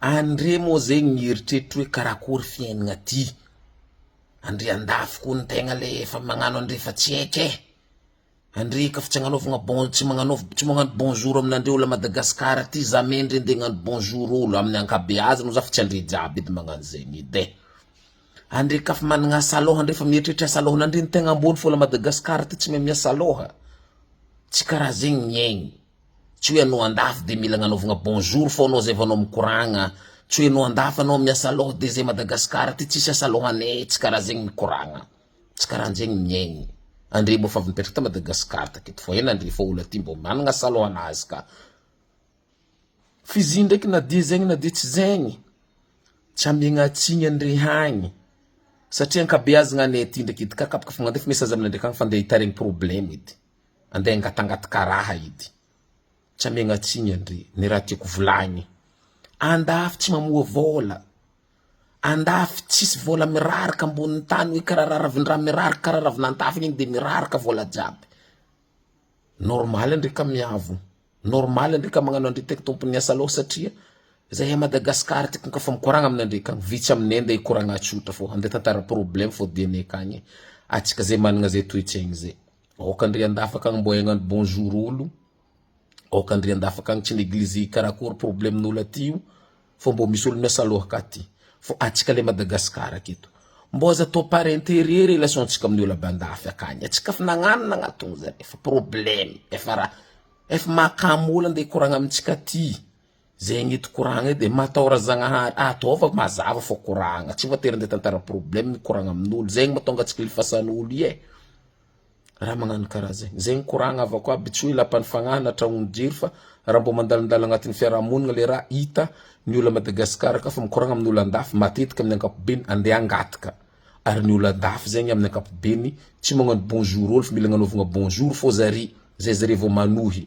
Andre moa zegny mieritreritry hoe karakory fiainagna aty, andre andafy koa ny tegna le efa magnano andre fa tsy heky eh, andre ka fa tsy agnanaovagna bon- tsy magnanaova tsy magnano bonjour aminandre olo à Madagascar aty za me ndre nde agnano bonjour olo amin'ny ankabeazany za fa tsy andre jiaby edy magnano zegny edy eh, andre ka fa managna asa lôha ndray fa mieritreritra asa lôhanandre ny tegna ambony fôla Madagascar aty tsy mahay miasa lôha, tsy karaha zegny ny aigny. Tsy hoe anao andafy de mila agnanaovagna bonjour fô anao zay vao anao mikoragna, tsy hoe anao andafy anao amin'ny asalôha de zay Madagascar aty tsisy asalôhaneh, tsy karaha zegny mikoragna, tsy karahanjegny miaigny, andre mbô fa avy nipetraka ta Madagascar taketo fô ela andre fô olo aty mbô managna asalôhanazy ka, f'izy ndraiky na dia zegny na dia tsy zegny tsy amiagna tsigny andre hagny satria ankabeazagna anay aty ndraiky edy ka kapakafagna andefa message aminay ndraiky agny fa ndeha hitaregny problème edy. andeha angatangatka raha ity, tsy amegna tsiny andre, ny raha tiako volagny, andafy tsy mamoa vôla, andafy tsisy vôla miraraka ambony tany hoe kara raha ravin-draha miraraka kara ravin'antafony igny de miraraka vôla jiaby, normaly andre ka miavo, normaly andre ka magnano andre teky tompon'ny asa lôha satria zahay a Madagascar tiko ka fa mikoragna amin'andre ka vitsy aminay ndeha hikoragna tsotra fô andeha tantara problème fô dianay akagny atsika zay managna zay toetsaigny zay. Aoka ndry andafaka agny mbô egnano bonjour olo, aoka ndry andafaka agny tsy negliger karakory problème olo aty io fô mbô misy olo miasa lohaka aty fô atsika le Madagascar aketo mbô aza atao par intérêt relation tsika amin'ny olo avy andafy akagny, atsika efa nagnano nagnatogno zare efa problème efa raha efa mahakamo olo ande hikoragna amintsika aty. Zegny tokoragna edy e, mataora Zagnahary, ataovy mazava fô koragna, tsy voatery nde tantara problème mikoragna amin'olo, zegny matonga tsy kilifasan'olo ie, raha magnano karaha zegny, zegny koragna avako aby, tsy hoe lapan'ny fagnahy na tragnon'ny jiro fa raha mbô mandalondalo agnatin'ny fiarahamonigna le raha hita ny olo à Madagascar ka fa mikoragna amin'olo andafy matetika amin'ny ankapobeny ande hangataka, ary ny olo andafy zegny amin'ny ankapobeny tsy magnano bonjour olo fa mila agnanaovagna bonjour fô zare, zay zare vao manohy.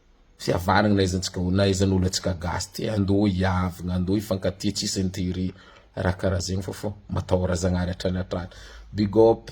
Tsy avarigny na aiza tsika na aiza olo atsika gasy ty andao hiavigna andao hifankatia tsisy interet raha karaha zegny fa fô matahora zagnahary hatrany hatrany big up.